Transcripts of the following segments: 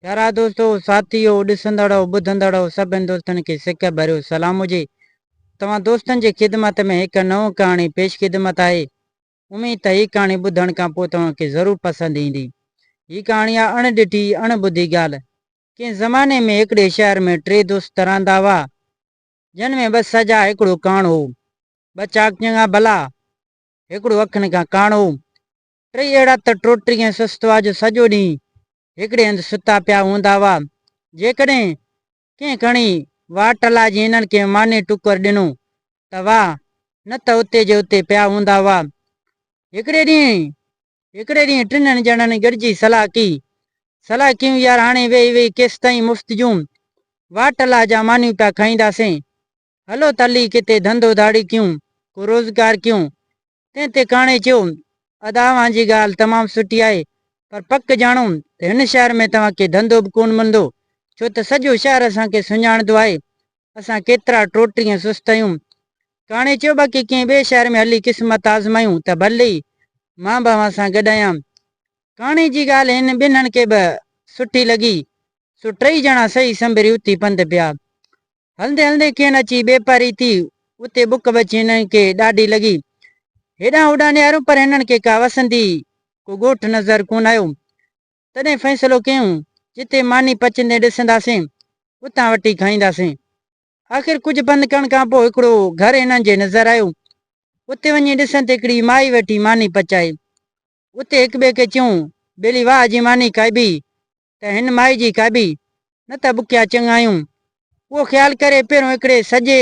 پيارا دوستو، ساٿيو، ڏسندڙو، ٻڌندڙو سڀني دوستن کي سڪ ڀريو سلام هجي. توهان دوستن جي خدمت ۾ هڪ نئون ڪهاڻي پيش خدمت آهي. اميد ته هي ڪهاڻي ٻڌڻ کان پوء توهان کي ضرور پسند ايندي. هي ڪهاڻي آهي اڻ ڏٺي اڻ ٻڌي ڳالهه. ڪنهن زماني ۾ هڪڙي شهر ۾ ٽي دوست رهندا هئا. جن ۾ ٻه سجا هڪڙو ڪاڻ هو. ٻه چاڪ چڱا ڀلا. هڪڙو اکين کان ڪاڻ هو. ٽي اهڙا ته ٽوٽري ائين سست هئا جو سڄو ڏينهن هڪڙي هنڌ ستا پيا هوندا هئا. جيڪڏهن ڪنهن کڻي واٽ لاء جي هنن کي ماني ٽڪر ڏنو ته واهه نه ته اتي جي اتي پيا هوندا هئا. هڪڙي ڏينهن هڪڙي ڏينهن ٽنهن ڄڻن گڏجي صلاح ڪئي. صلاح ڪيون يار هاڻي ويهي ويهي ڪيستائين مفت جون واٽ لاء جا مانيون پيا کائينداسين. هلو ته هلي ڪٿي ڌنڌو ڌاڙي ڪيون، ڪو روزگار ڪيون. تنهن تي ڪاڻي چيو، ادا اوهان جي ڳالهه تمام سٺي آهي، پر پڪ ڄاڻو ته هن شهر ۾ توهان کي ڌنڌو به ڪونه ملندو، ڇو ته سڄو شهر اسان کي سڃاڻندو آهي. اسان ڪيترا ٽوٽري ۽ سست آهيون. ڪاڻي چيو باقي ڪنهن ٻئي شهر ۾ هلي قسمت آزمايون ته ڀلي ئي، مان به اوهان سان گڏ آهيان. ڪاڻي جي ڳالهه هنن ٻنهن کي به سٺي لڳي، سو ٽئي ڄڻا سهي سنبري اٿي پنڌ پيا. هلندي هلندي کين اچي ٻي پاري ٿي، اتي بک به اچي هنن کي ڏاڍي لڳي. هيڏانهن هوڏانهن نهاريون پر هنن کي ڪا وسندي ڪو ڳوٺ نظر ڪونه آيو. تڏهن فيصلو ڪيون، جتي ماني پچندي ڏسنداسين، اتان وٺي کائينداسين. آخر ڪجهه پنڌ ڪرڻ کان پوء هڪڙو گهر هنن جي نظر آيو. اتي وڃي ڏسن ته هڪڙي مائي ويٺي ماني پچائي. اتي هڪٻئي کي چيون، ڀيلي واهه جي ماني کائبي، ته هن مائي جي کاٻي نه ته ٻکيا چڱايون. اهو خيال ڪري پهريون هڪڙي سڄي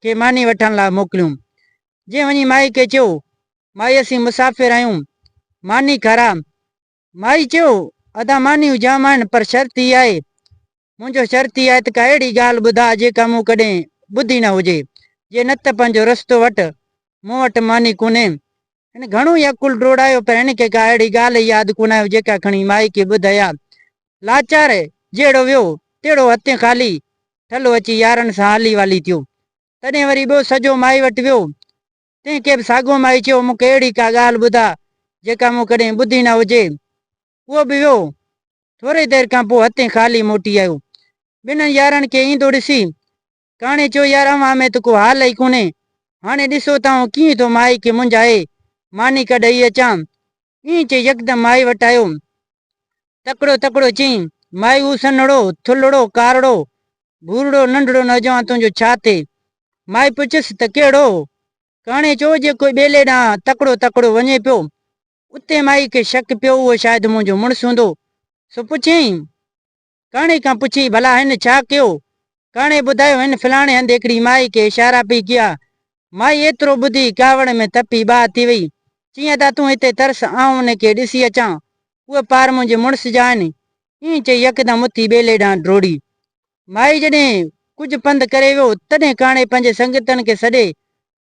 کي ماني وٺڻ لاء موڪليون. جنهن وڃي مائي کي چيو، مائي اسين مسافر آهيون، ماني کارا. مائي چيو، ادا مانيون جام آهن پر شرط هي آهي. منهنجو شرط هي آهي ته ڪا اهڙي ڳالهه ٻڌاء جيڪا مون ڪڏهن ٻڌي نه هجي. جي نه ته پنهنجو رستو وٺ، مون وٽ ماني ڪونهي. هن گهڻو ئي عقل ڊوڙايو پر هن کي ڪا اهڙي ڳالهه ياد ڪونه آيو جيڪا کڻي مائي کي ٻڌ هيا. لاچار جهڙو ويو تهڙو هٿين خالي ٺلهو اچي يارن سان هالي والي ٿيو. تڏهن وري ٻيو سجو مائي وٽ ويو. تنهن کي به ساڳو مائي چيو مون کي اهڙي ڪا ڳالهه ٻڌاء جيڪا مون ڪڏهن ٻڌي نه هجي. اهو به ويو. ٿوري دير کان پوء هٿين خالي موٽي آيو. ٻنهن يارن کي ايندو ڏسي ڪاڻي چيو يار اوهان ۾ ته ڪو حال ئي ڪونهي. هاڻي ڏسو ته آئون ڪيئن ٿو مائي کي منجهائي ماني ڪا ڏئي اچان. ائين چئي يڪدم مائي وٽ آيو. تڪڙو تڪڙو چيائين، مائي هو سنهڙو، ٿلهڙو، ڪارڙو، ڀورڙو ننڍڙو نوجوان تنهنجو ڇا ٿئي؟ مائي پڇيس ته ڪهڙو؟ ڪاڻي چيو جيڪو ٻيلي ڏانهن تڪڙو تڪڙو وڃي پيو. اتي مائي کي شڪ پيو اهو شايد منهنجو مڙس هوندو. سو پڇيائين. ڪاڻي کان پڇيائين، ڀلا هن ڇا ڪيو؟ ڪاڻي ٻڌايو، هن فلاڻي هنڌ هڪڙي مائي کي اشارا پئي ڪيا. مائي ايترو ٻڌي ڪاوڙ ۾ تپي باهه ٿي وئي. چيائين، ادا تون هتي ترس، آئون ان کي ڏسي اچان. اهي پار منهنجي مڙس جا آهن. ائين چئي يڪدم اٿي ٻيلي ڏانهن ڊوڙي. مائي جڏهن ڪجهه پنڌ ڪري ويو، تڏهن ڪاڻي پنهنجي سنگتن کي سڏي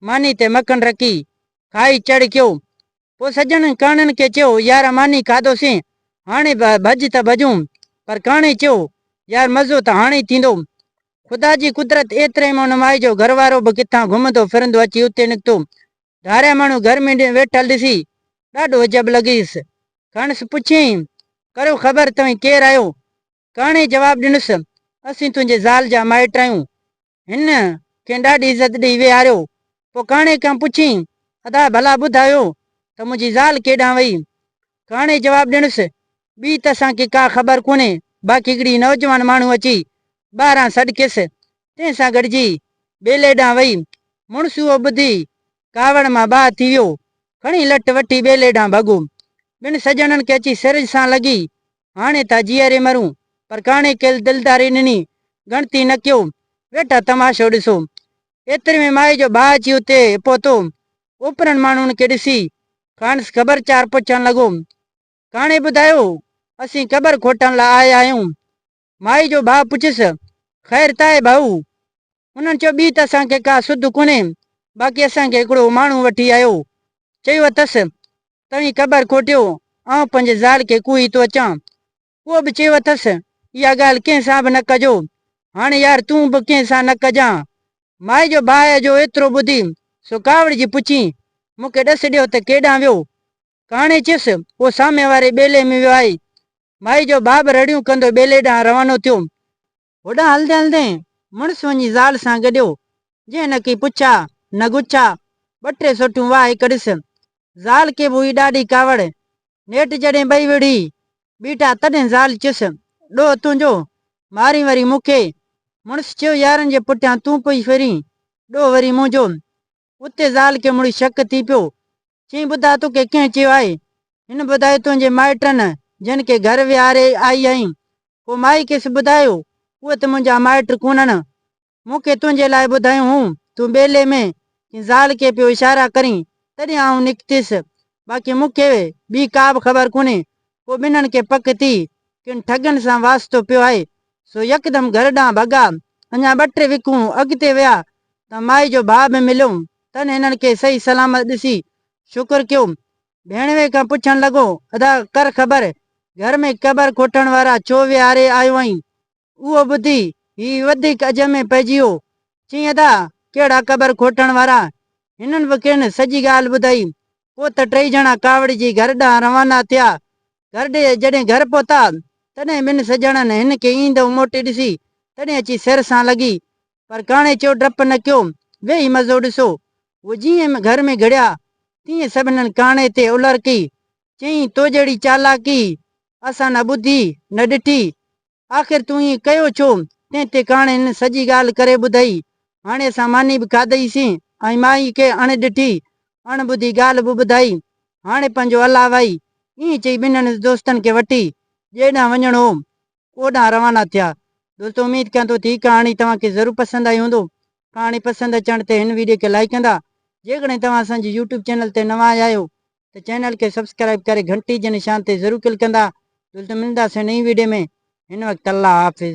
ماني تي مکڻ رکي کائي چڙ ڪيو. پوء سڄڻن ڪاڻن کي چيو، يارا ماني کاڌوسين، هاڻي به ڀڄ ته ڀڄون. پر ڪاڻي چيو، يار مزو ته هاڻي ٿيندو. خدا جي قدرت ايتري ۾ ان مائي جو گهر وارو به ڪٿان گهمندو ڦرندو اچي اتي نڪتو. ڌاريا ماڻهو گهر ۾ ويٺل ڏسي، ڏاڍو عجب لڳيس. کڻس پڇيائين، ڪريو خبر توهين ڪير آهيو؟ ڪاڻي جواب ڏنس، اسين تنهنجي زال جا مائٽ آهيون. هن کين ڏاڍي عزت ڏيئي ويهاريو. پوء ڪاڻي کان پڇيائين، ادا ڀلا ٻڌايو ته منهنجي زال ڪيڏانهن وئي؟ ڪاڻي جواب ڏنس، ٻي ته اسان کي ڪا خبر ڪونهي، باقي هڪڙي نوجوان ماڻهو اچي ٻاهران سڏڪيس، تنهن سان گڏجي ٻيلي ڏانهن وئي. مڙس اهو ٻڌي ڪاوڙ مان باهه ٿي ويو. کڻي لٺ وٺي ٻيلي ڏانهن ڀڳو. ٻن سڄڻن کي اچي سرج سان لڳي هاڻي ٿا جيئري مرون. پر ڪاڻي ڪيل دلداري نني، ڳڻتي نه ڪيو، ويٺا تماشو ڏسو. ايتري ۾ مائي جو ڀاء اچي اتي پهتو. اوپرن ماڻهن کي ڏسي، کانئس خبر چار پڇڻ لڳو. ڪاڻي ٻڌايو، اسين قبر کوٽڻ لاء آيا آهيون. مائي جو ڀاء پڇيس، خير ته آهي ڀائو؟ انهن چيو ٻي ته اسان کي ڪا سڌ ڪونهي باقي اسان کي هڪڙو ماڻهو وٺي آيو چيو اٿس توهين قبر کوٽيو آئون پنهنجي زال کي ڪوهي ٿو اچان اهو به چيو اٿس اها ڳالهه ڪنهن سان به نه ڪجو هاڻي يار تون به ڪنهن سان نه ڪجان مائي جو باهه جو ايترو ٻڌي سو ڪاوڙجي پڇين مون کي ڏس ڏيو ته ڪيڏانهن ويو ڪهاڻي چيس اهو سامي واري ٻيلي ۾ ويو آهي مائي جو باهه به رڙيون ڪندو ٻيلي ڏانهن روانو ٿيو هوڏانهن هلندي هلندي مڙس وڃي زال سان گڏيو، جنهن نڪي پڇا، نگوچا، ٻه ٽي سوٽون وهائي ڪڍيس. زال کي به هئي ڏاڍي ڪاوڙ. نيٺ جڏهن ٻئي وڙهي بيٺا تڏهن زال چيس، ڏوهه تنهنجو، مارين وري مون کي. مڙس چيو، يارن جي پٺيان تون پئي ڦرين، ڏوهه وري منهنجو. اتي زال کي مڙي شڪ ٿي پيو. چيائين ٻڌاء توکي ڪنهن چيو آهي؟ هن ٻڌايو تنهنجي مائٽن جن کي گهر ويهاري آئي آهين. پوء مائي کيس ٻڌايو اهي ته منهنجا مائٽ ڪونهن. مون کي تنهنجي لاء ٻڌايون هون. تون ٻيلي ۾ ڪنهن زال کي پيو اشارا ڪرين تڏهن آئون نڪتيس. باقي مون کي ٻي ڪا به خبر ڪونهي. پوء ٻنهن کي پڪ ٿي، ڪن ٺڳن سان واسطو پيو آهي. سو يڪدم گهر ڏانهن ڀڳا. اڃا ٻه ٽي وکون اڳتي ويا ته مائي جو ڀاء به مليو. تن هنن کي صحيح سلامت ڏسي شڪر ڪيو. ڀيڻوي کان پڇڻ لڳو، ادا ڪر خبر، گهر ۾ قبر کوٽڻ وارا ڇو ويهاري آيو آهين؟ اهو ٻڌي هي وڌيڪ اجهه ۾ پئجي ويو. چيائين ادا، ڪهڙا قبر کوٽڻ وارا. هنن به کين سڄي ڳالهه ٻڌائي. پوء ته ٽئي ڄڻا ڪاوڙجي گهر ڏانهن روانا ٿيا. گهر ڏي جڏهن گهر پهتا، تڏهن ٻن سڄڻن هن کي ايندو موٽي ڏسي، تڏهن اچي سر سان لڳي. پر ڪاڻي چيو ڊپ نه ڪيو، ويهي مزو ڏسو. هو جيئن گهر ۾ گهڙيا، تيئن سڀنن ڪاڻي تي الرڪي. چيائين، تو جهڙي چالاڪي اسان نه ٻڌي، نه ڏٺي. آخر تون ائين ڪيو ڇو؟ تنهن تي ڪهاڻين سڄي ڳالهه ڪري ٻڌئي. هاڻي اسان ماني به کاڌئي سين ۽ مائي کي اڻ ڏٺي، اڻ ٻڌي ڳالهه به ٻڌائي. هاڻي پنهنجو الله وائي. ائين چئي ٻنهن دوستن کي وٺي جنهن ڏانهن وڃڻو هو، اوڏانهن روانا ٿيا. دوستو اميد ڪيان ٿو ته هي ڪهاڻي توهان کي ضرور پسند آئي هوندو. ڪهاڻي پسند اچڻ تي هن ويڊيو کي لائيڪ ڪندا. جيڪڏهن توهان اسان جي يوٽيوب چينل تي نوان آيا آهيو ته چينل کي سبسڪرائب ڪري گهنٽي جي نشان تي ضرور ڪلڪ ڪندا جلد ملنداسين نئين ويڊيو ۾ هن وقت الله حافظ.